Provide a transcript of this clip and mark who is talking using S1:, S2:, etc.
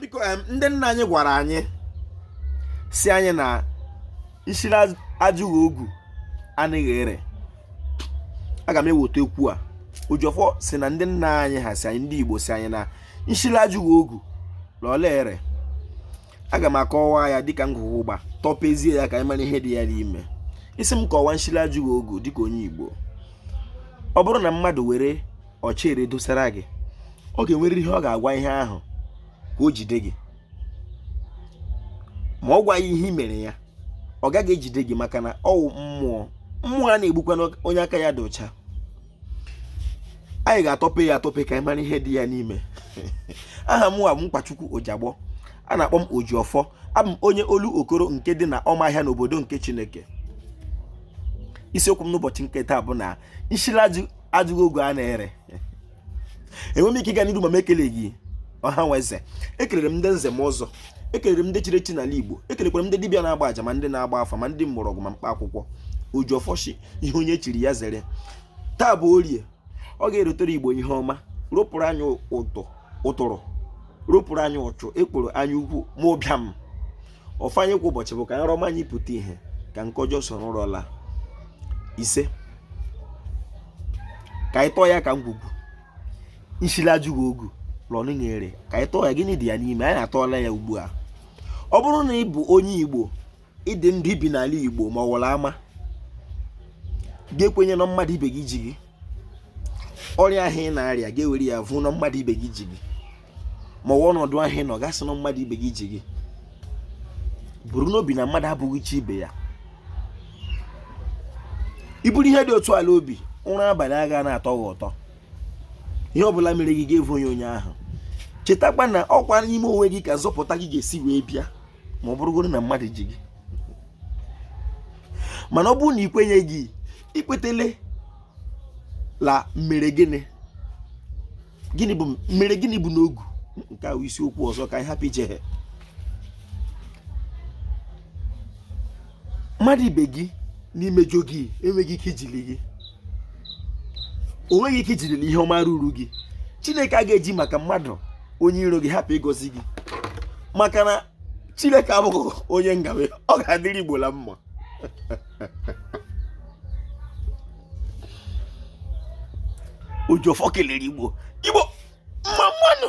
S1: biko ndị nna anyị gwara anyị sị anyị na nsi la-ajụghị ogu anaghị ere aga m eweta okwu a Ojiọfọ sị na ndị nna anyị ha si anyị ndị igbo sị anyị na nshi la-ajụghị ogu na ọ laghị ere aga m akọwa ya dịka ngwugwu ụgba tọpezie ya ka anyị mara ihe dị ya n'ime ị sị m kọwaa nshi la-ajụghị ogu dịka onye igbo ọ bụrụ na mmadụ were ọchịrị dosara gị ọ ga-enwerịrị ihe ọ ga-agwa ihe ahụ ka o jide gị ma ọ gwaghị ihe i mere ya ọ gaghị ejide gị maka na ọ wụ mmụọ mmụọ anaghị egbukwa onye aka ya dị ọcha anyị ga-atọpe ya atọpe ka anyị mara ihe dị ya n'ime aha mụwa bụ Nkwachukwu Ojagbọ a na-akpọ m Ojiọfọ abụ m onye Olokoro nke dị na ọma ahịa n'obodo nke Chineke isiokwu m n'ụbọchị nke taa bụ na nshi la-ajụghị ogu anaghị ere enweghị m ike ịga n'iru ma m ekeleghị ọha na eze ekelere m ndị nze na ọzọ ekelere m ndị chiri echi n'ala igbo ekelekwara m ndị dibịa na-agba aja ma ndị na-agba afa ma ndị mgbọrọgwụ ma mkpa akwụkwọ Ojiọfọ shị ihe onye chiri ya zere taa bụ orie ọ ga-erotere igbo ihe ọma ropụrụ anyị ụtụrụ ropụrụ anyị ụchụ ekworo anyaukwu ma ụbịam ọfọ anyị kwa ụbọchị bụ ka nrọ ọma anyị pụta ihe ka nke ọjọọ soro ụra laa ise ka anyị tọọ ya ka ngwugwu nshi la-ajụghị ogu la ọ naghị ere ka anyị tọọ ya gịnị dị ya n'ime anyị na-atọọla ya ugbu a ọ bụrụ na ị bụ onye igbo ị dị ndụ i bi n'ala igbo ma ọ wụrụ ama ga-ekwenye na mmadụ ibe gị ji gị ọrịa ahụ ị na-arịa ga-ewere ya vụọ na mmadụ ibe gị ji gị ma ọ wụ ọnọdụ ahụ ị nọ ga-asị na mmadụ ibe gị ji gị buru n'obi na mmadụ abụghị chi ibe ya i buru ihe dị otu a la obi ụra abalị aga na-atọ gị ụtọ ihe ọbụla mere gị ga-evunye onye ahụ chetakwa na ọkwa n'ime onwe gị ka nzọpụta gị ga-esi wee bịa ma ọ bụrụgoro na mmadụ ji gị mana ọ bụrụ na i kwenye gị ikwetele la mere gịnị gịnị bụ mere gịnị bụ n'ogu nke a wụ isiokwu ọzọ ka anyị hapụ iche ha mmadụ ibe gị na-emejọ gị enweghị ike ijili gị o nweghị ike ijiri ihe ọma ruru gị chineke agaghị eji maka mmadụ onye iro gị hapụ ịgọzi gị maka na chineke abụghị onye ngawe ọ ga-adịrị igbo la mma Ojiọfọ kelere igbo igbo mma mma nụ